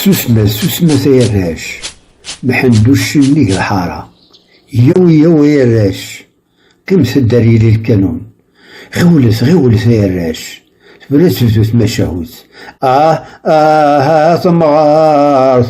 Susmet, susmet ay arrac, mḥend uccen nnig lḥara. Yyaw, yyaw ay arrac, qqimet-d ar yili lkanun. Ɣiwlet, ɣiwlet ay arrac, tura ad tebdu tmacahut. Ah, ah, ah, tamɣart,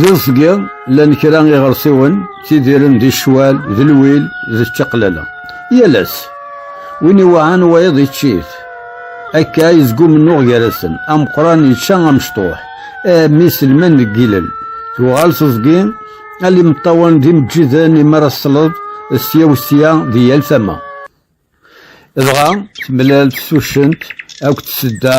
D iẓgi, llan kra iɣersiwen, ttidiren di ccwal, d lwil, d čaqlala. Yal ass, win iwaɛan wayeḍ iččit. Akka yezgu mennuɣ gar-asen, ameqqran yečča amecṭuḥ, eh, mi selman deg ilel. Tuɣal teẓgi, al imeṭṭawen d imeǧǧiden, imaraṣleḍ, sya u sya, di yal tama. Dɣa temlal-d tuccent akked tsedda,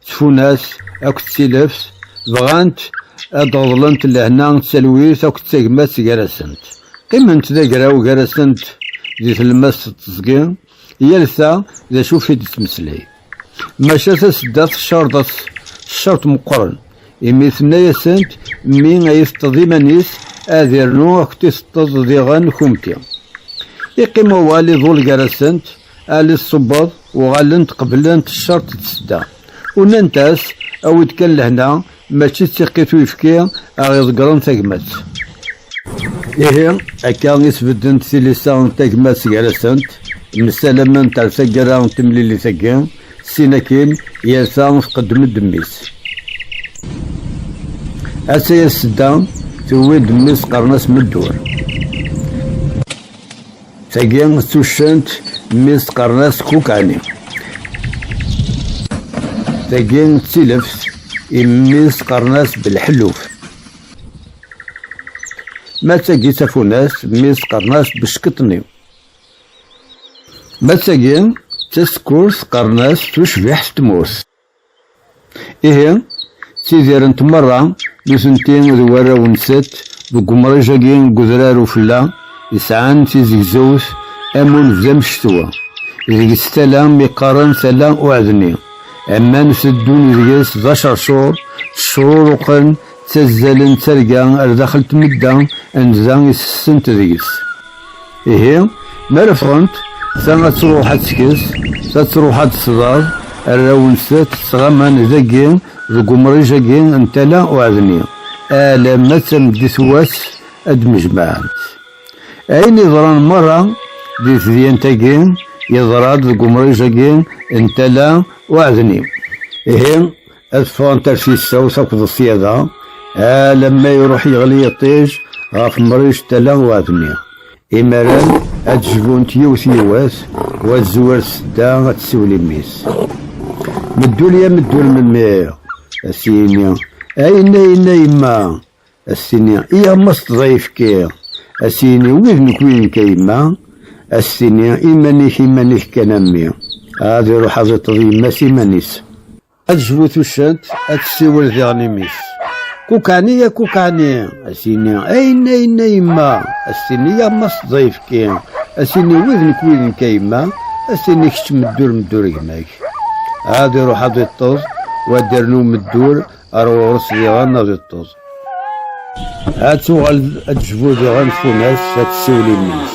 tfunast akked tileft, bɣant ad d-ɣeḍlent lehna d talwit akked tagmat gar-asent. Qqiment d agraw gar-asent di tlemmast d teẓgi, yal ta d acu i d-tettmeslay. Maca tasedda teccerḍet ccerṭ meqqren, imi tenna-asent, Mi ay iteṭṭeḍ iman-is, ad irnu akk tiseṭṭeḍ diɣen kumti. Iqqim wawal iḍul gar-asent, Ali Ṣṣubbeḍ, uɣalent qeblent ccerṭ d tsedda. Unant-as, Awi-d kan lehna, Mačči d tiqit uyefki ara iḍeggren tagmat. Ihi, akka i sbeddent tilisa n tagmat gar-asent, msalament ar taggara n temlilit-agi, sin akkin, yal ta tqeddem-d mmi-s. Atta-yas Sedda, tewwi-d mmi-s qqaren-as Meddur. Tagi d tuccent mmi teqqaren-as Kukani. Tagi d tileft immi teqqaren-as Belḥelluf. Ma d tagi d tafunast mmi teqqaren-as Beskeṭni. Ma d tagi d tasekkurt qqaren-as Tucbiḥt n tmurt. Ihi, ttidirent merra nutenti d warraw-nsent deg umriǧ-agi n udrar ufella yesɛan tizegzewt am win d amectwa, deg-s tala mi qqaren tala uɛedni, aman teddun deg-s d aceṛcuṛ, ttecruruqen, ttazzalen d targa ar daxel tmedda anda i sessent deg-s. Ihi, mi ara ffɣent, ta ad truḥ ad tekkes, ta truḥ ad d-tḍaḍ, arraw-nsent ttɣaman dagi deg umriǧ-agi n Tala Uɛedni, alamma d tameddit n wass ad d-mjemɛent. Ayen yeḍran merra di tedyant-agi, yeḍra-d deg umriǧ-agi n Tala Uɛedni. Ihi. Ad ffɣent ar tissawt akked ṣṣyada, alamma iruḥ yeɣli yiṭij ɣef Mric tala n uɛedmi. Imaren ad d-jbunt yiwet yiwet, u ad d-tezwir tsedda ad tessiwel i mmi-s. Meddul ya meddul melmi? Ad s-yini, A inna inna yemma! Ad s-tini, I a mma sṭeẓ ayefki! Ad s-yini, Wid nek wid-nek a yemma! Ad s-tini, Iman-ik iman-ik kan a mmi! Ad iruḥ ad iṭeḍ yemma-s iman-is. Ad zwu tussant, ad tessiwel diɣen i mmi-s. Kukani a kukani, a s-ini, ayen ayen a yemma, a s-tini ya ma s ẓayefki, a s-ini wid nek wid nek a yemma, a s-tini kečč meddur meddur gma-k. Ad iruḥ ad iṭṭeẓ, wa ad irnu meddur ar ɣur-s diɣen ad iṭṭeẓ. Ad tuɣal ad tejbu diɣen tfunast, ad tessiwel i mmi-s.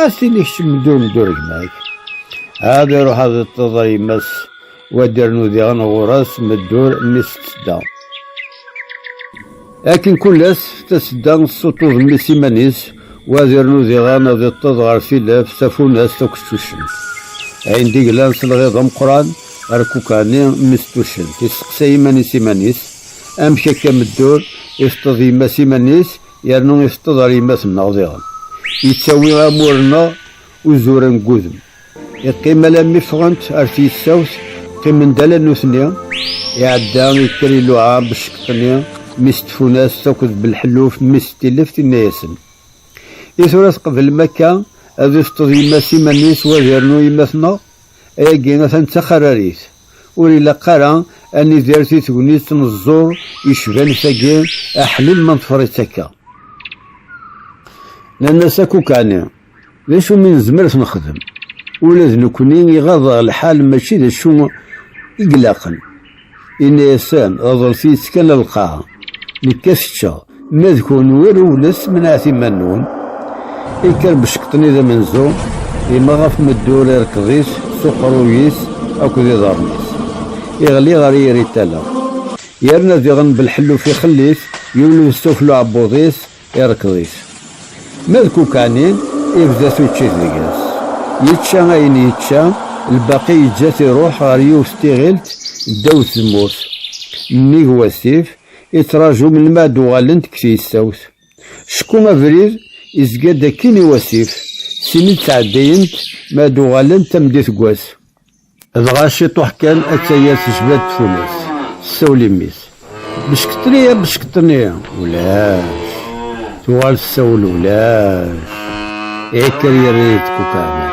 A tili kečč mdul-d uregma-k. Ad iruḥ ad iṭṭeḍ a yemma-s, wad irnu diɣen ɣur-s meddur mmi-s d tedda. Akken kul ass, tasedda tessuṭṭuḍ mmi-s iman-is, wad irnu diɣen ad iṭṭeḍ ɣer tilaf, tafunast akked tuccent. Ayen d-iglan s lɣiḍ ameqqran, rkukani mmi-s d tuccent. Isteqsay iman-is iman-is, Amek akka meddur, iteṭṭeḍ yemma-s iman-is? yernu iteṭṭeḍ ar yemma-tneɣ diɣen, yettawi amur-nneɣ uzuren deg udem, yeqqim alammi ffɣent ar tyessawt, qqimen-d ala nutni, iɛedda yekker iluɛa Becceqṭni, mmi-s Tfunast akked Belḥelluf, mmi-s Tileft, inna-yasen, I tura tqeblem akka ad iteṭṭeḍ yemma s iman-is wad irnu yemma-tneɣ? Ayagi atan d taxararit! Ur ilaq ara ad nidir di tegnit n ẓẓur yecban tagi aḥlil ma neḍfer-itt akka. Nanna-s akk ukɛni, d acu mi nezmer ad t-nexdem? Ula d nekkni iɣaḍ-aɣ lḥal mačči d acu i ilaqen. Yenna-yasen, Ḍeḍlet-iyi-tt kan a lqaɛa, nekk ad t-ččeɣ. Ma d kunwi rewlet, menɛet iman-nwen. Ikker Beckeṭ-nni d amenzu, yemma ɣef meddur irkeḍ-is s uqerruy-is akked iḍarren-is. Iɣli ɣer yiri n tala. Yerna diɣen belḥelluf ixelli-t, yewled s tufla uɛebbuḍ-is, irkeḍ-it. Ma d Kukɛni, ibda tuččit deg-s. Yečča ayen yečča, lbaqi yeǧǧa-t iruḥ ɣer yiwet n tiɣilt ddaw tzemmurt. Nnig wasif, ittraju melmi ad d-uɣalent deg tgestawt. Skum abrid izga-d akkin i wasif, sin i d-ttɛeddayent mi ad d-uɣalent tameddit n wass. Dɣa ciṭuḥ kan atta yir tejba-d tfunast, tessawel i mmi-s, Beckeṭ-nni a beckeṭ-nni! Ulac! Tuɣal tessawel, Ulac! Iɛekker yerra-yi-d deg ukeɛmir.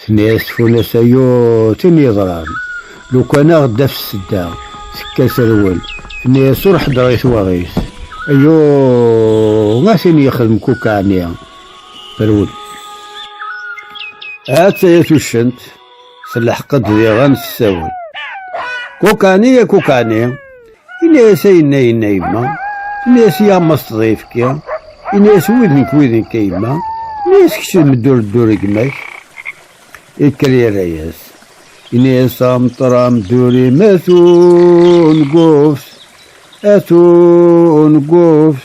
Tenna-yas tfunast, Ayuu, tin yeḍran, lukan a ɣ-d-taf ssedda, tekka terwel. Tenna-yas, Ur ḥeddreɣ i twaɣit. Ayuu, a tin yexdem kukk ɛni! Terwel. Hattaya tuccent, telḥeq-d diɣen tessawel, Kukk ɛni, a kukk ɛni! Ini-as ayen ayen a yemma. Ini-as ya ma s tḍifki. Ini-as wid nekk wid nekk a yemma. Ini-as kečč d meddur ddur gma-k. Ikker yerra-yas. Ini-as amṭer amdur imat ungufs. At ungufs.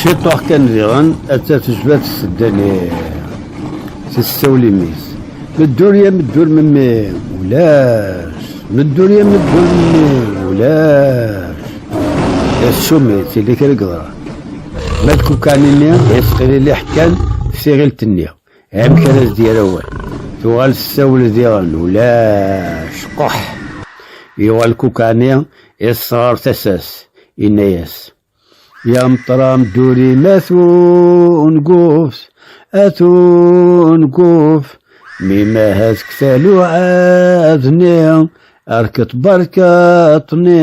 Ciṭuḥ kan diɣen, atta tejba tsedda-nni si tsawlimis. Meddur ya meddur memmi, ulac. Meddur ya meddur memmi, ulac. Assumi, tili kra geḍra. Ma d kukan-nni, yesqililiḥ kan s tiɣilt-nni. Amek ara s-d-yerr awal? Tuɣal tessawel diɣen, ulac quḥ! Yuɣal Kukani iṭṭes ɣer tasa-s, yenna-yas, Ya Meṭram Durim at unguf, at unguf, mi mahat deg taluɛa-nni, rket berkaṭ-nni,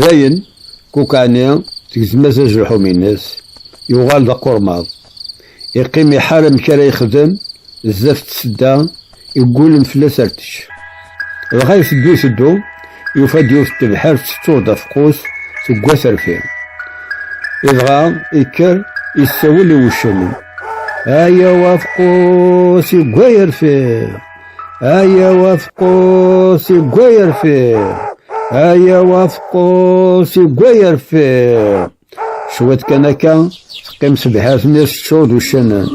Dayen, Kukani tegzem-as azelḥum-ines, yuɣal d aqurmaḍ. Iqqim iḥar amek ara yexdem zdat n tsedda iggulen fell-as ar tečč. Dɣa iteddu iteddu, yufa-d yiwet n tebḥirt tettuɣ-d afeqqus seg waterfi. Idɣa ikker yessawel i wuccanen, Ayaw afeqqus yewwa yerfi! Ayaw afqus igwa yerfiq Ayaw afqus igwa yerfiq Cwiṭ kan akka teqqim sebḥat-nni teččur d uccanen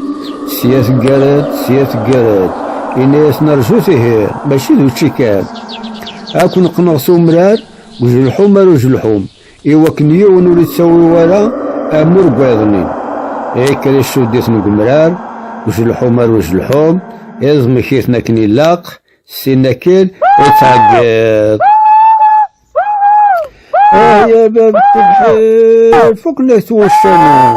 Sya teggar-d, sya teggar-d Ini-as nerzu tihi, mačči d učči kan Ad ken-qqneɣ s umrar Ujelḥum ar ujelḥum I wakken yiwen ur ittawi wara amur deg wayeḍ-nni, ikker isudditen deg umrar, uzelḥu mar uzelḥu, iẓmek-iten akken ilaq, sin akken i ttɛeggiḍ. Ay a bab tebḥir, fukken-ak-d wuccanen.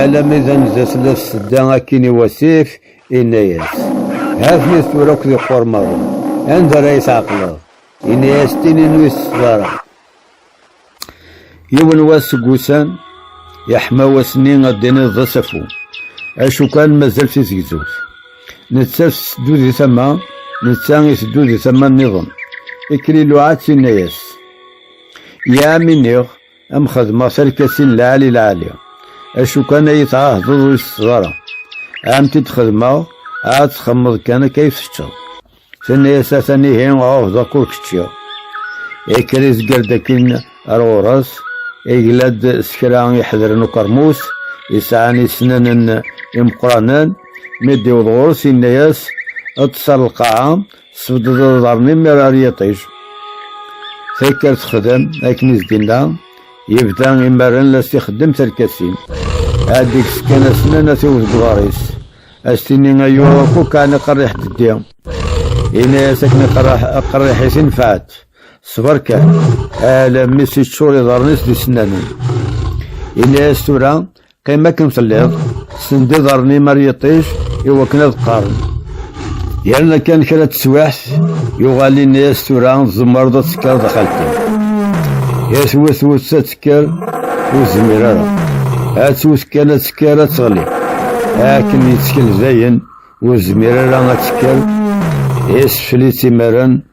Alami d anza tella tsedda akkin i wasif, inna-yas, Hatni tura akk di qurmaḍen, anda ara yi-tɛeqleḍ? Inna-yas, Tinin ur yi-tesseḍara. Yiwen wass seg wussan, yeḥma wass-nni ad d-tiniḍ d asafu, acu kan mazal tizegzewt. Nettat tetteddu di tama, netta iteddu di tama-nniḍen. Ikliluɛa-tt, inna-yas, Yaɛam iniɣ, Am xedmeɣ tarkatin lɛali lɛali, acu kan ay tɛahdeḍ ur isetteḍ ara. Ɛam t-id xedmeɣ, ɛad txemmeḍ kan akka ay teččeḍ. Tenna-as atan ihi ɛuhdeɣ-k ur k-ččiɣ. Ikker izger-d akkin ar ɣur-s, igla-d s kra iḥedren ukermus, yesɛan isnanen imeqqranen, mi d-iweḍ ɣur-s yenna-as, ṭṭes ar lqaɛa, Tesbeddeḍ aḍar-nni mi ara yiṭij. Takkar texdem akken i s-d-inna, yebda imaren la s-ixeddem tarkasin. Ad d-ikkes kan asnan ad t-iwet deg Ad s-tini ay uɣafu kan aqerriḥ d-ddi. Yenna-as akken aqerriḥ-is inefɛet. Ṣber kan, alammi s-iččur iḍarren-is d isennanen. Yenna-as tura Qim akken telliḍ, send iḍarren-im ar yiṭij i wakken ad qqaren. Yerna kan kra teswiḥt, yuɣal ini-as tura tzemreḍ ad tekkreḍ a xalti. I twet wet ad tekker, ur zmir ara. Ad twet kan ad tekker ad teɣli. Akken yettkel dayen, ur zmir ara ad tekker, isfel-itt imaren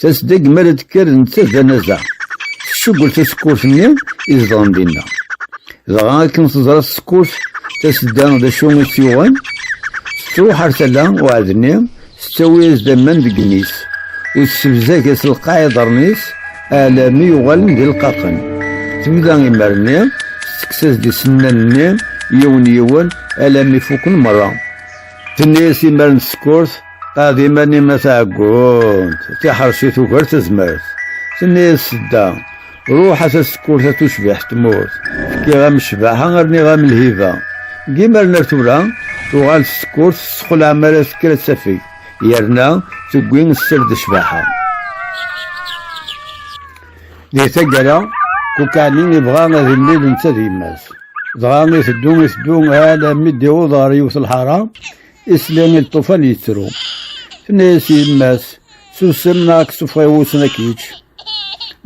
Tasdeg mi ara d-tekker netta d anaza. Tessugel tasekkurt-nni i zedɣen dinna. Dɣa akken teẓra tsekkurt tasedda d acu i tt-yuɣen, tettruḥ ar tala uɛedni, tettawi-as-d aman deg imi-s, u tessebzag-as lqaɛ iḍarren-is alami yuɣalen d ilqaqen. Tebda imer-nni tettekkes-as-d isennan-nni yiwen yiwen alami fukken merra. Tenna-as imer n tsekkurt. Ad iman-im a taɛeggunt, tiḥersit ugar tazmert. Tenna-yas Sedda, ruḥ a tasekkurt a tucbiḥt tmurt, fkiɣ-am ccbaḥa rniɣ-am lhiba. Deg yimaren ar tura, tuɣal tsekkurt tessexlaɛ mi ara tekker ad tafeg, yerna tewwi sser d ccbaḥa. Di taggara, Kukɛani ibɣa ad imlil netta d yemma-s. Dɣa iteddu iteddu alammi d-iwweḍ ɣer yiwet lḥara, Isli i lṭufan yettru. Tenna-yas yemma-s, susem neɣ ad k-sufeɣ i wussan ad k-yečč.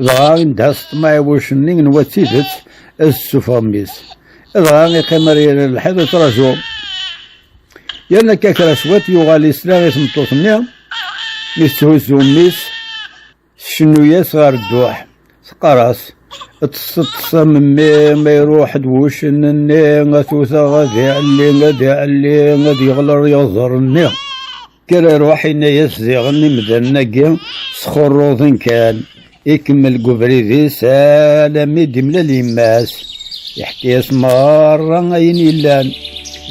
Dɣa indha s ṭṭmeɛ i wucen-nni n wa d tidet ad s-sufeɣ mmi-s. Dɣa iqqim ar yiri n lḥiḍ yettraǧu. Yerna akka kra cwiṭ yuɣal isla i tmeṭṭut-nni mi tetthuzzu mmi-s. Tcennu-yas ɣer dduḥ, teqqar-as, Ṭṭset-ṭṭes a memmi, ma iruḥ-d wuccen-nni, a t-wteɣ ad iɛelli, ad iɛelli, ad yeɣleṛ yeɣẓer-nni. Kker a ruḥ, yenna-yas diɣen imdanen-agi sxurruḍen kan. Ikemmel deg ubrid-is alami d-imlal yemma-s. Iḥka-yas meṛṛa ayen yellan,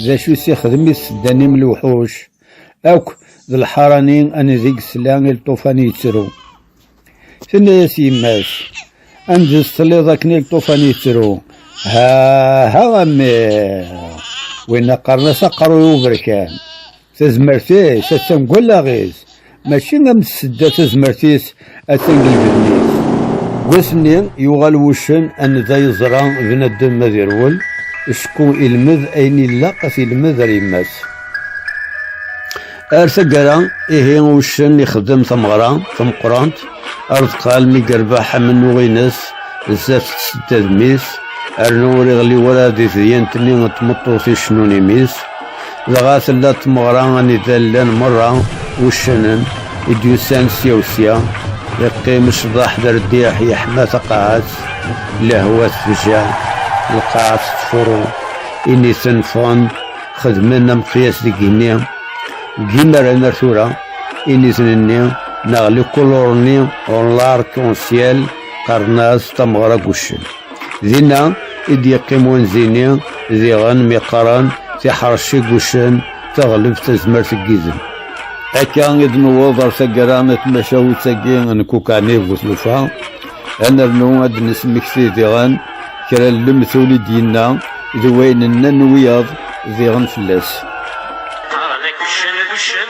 d acu i s-ixdem i s-seddan imlewḥuc. Akk d lḥarani anideg tla i lṭufan yettru. Tenna-yas yemma-s, Anez telliḍ akken i lṭufan yettru. Ha, ha a mmi! Winna qqaren-as aqerruy uberkan. Tazmert-is attan deg wallaɣ-is. Mačči am tsedda tazmert-is atan deg lbenni-s. Wass-nni yuɣal wuccen anida yeẓra bnadem ma d irwel, ecku ilmed ayen ilaq ad t-ilmed ar yemma-s. Ar taggara, ihi uccen ixdem tameɣra tameqqrant, ardeq almi yerbeḥ amennuɣ-ines zdat tsedda d mmi-s, rnu ur iɣelli wara di tedyant-nni n tmeṭṭut icennun i mmi-s. Dɣa tella tmeɣra anida llan merra wuccanen i d-yusan sya u sya, iqqim ccḍeḥ d rrdiḥ yeḥma taqaɛet, lehwa tefjaɛ, lqaɛa tettfuṛu, initen ffɣen xedmen ameqyas deg igenni. Deg yimaren ar tura, initen-nni neɣ les colorni en l'arc en ciel qqaren-as tameɣra n wuccen. Dinna i d-yeqqim wanzi-nni diɣen mi qqaren tiḥrec i wuccen, taɣlebt tazmert n yidem. Akka i d-newweḍ ar taggara n tmacahut-agi n Kukani bu tlufa, ad nernu ad d-nesmekti diɣen kra n lemtul i d-yenna d wayen nnan wiyaḍ diɣen fell-as. Qqaren-ak uccen d uccen,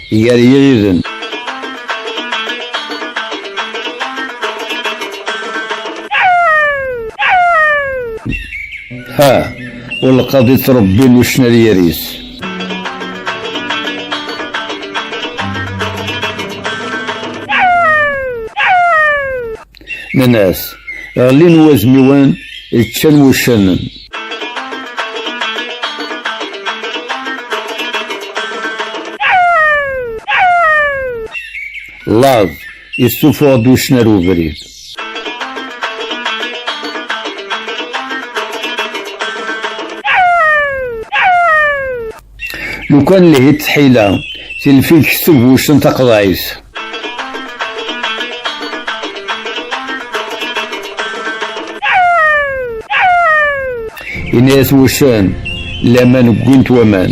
gar yiriden. Ha, ur lqad i ttrebbin uccen ar yir-is. Nnan-as, ɣellin wazmiwen, ččan wuccanen. Laẓ, yessufuɣ-d uccen ar ubrid. Lukan lhit tḥila, tilfik s tebbuct n taqḍayt. Inayat wussan, laman ggwint waman.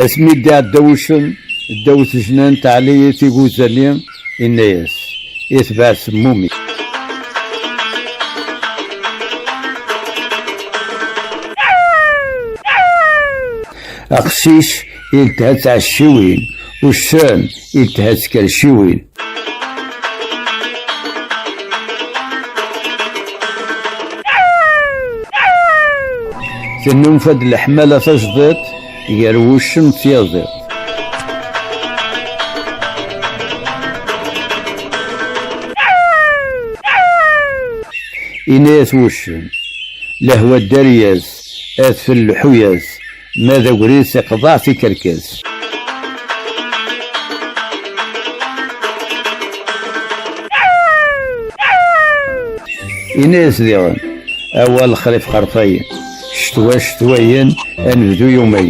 Asmi d-iɛedda wuccen, ddaw tejnant, ɛlayit iguzzali, Inna-yas, Itbeɛ semmum-ik. Aqcic iltha d tɛecciwin, uccen iltha d tkerciwin. Tennulfa-d leḥmala tajdiṭ. Gar wuccen d tyaziḍt. Inna-yas wuccen, lehwa ddari-yas, adfel leḥu-yas, ma d agris iqḍeɛ tikerkas. Inna-yas diɣen, awa lexrif xerfayen. Ccetwa ccetwayen ad nebdu yumay.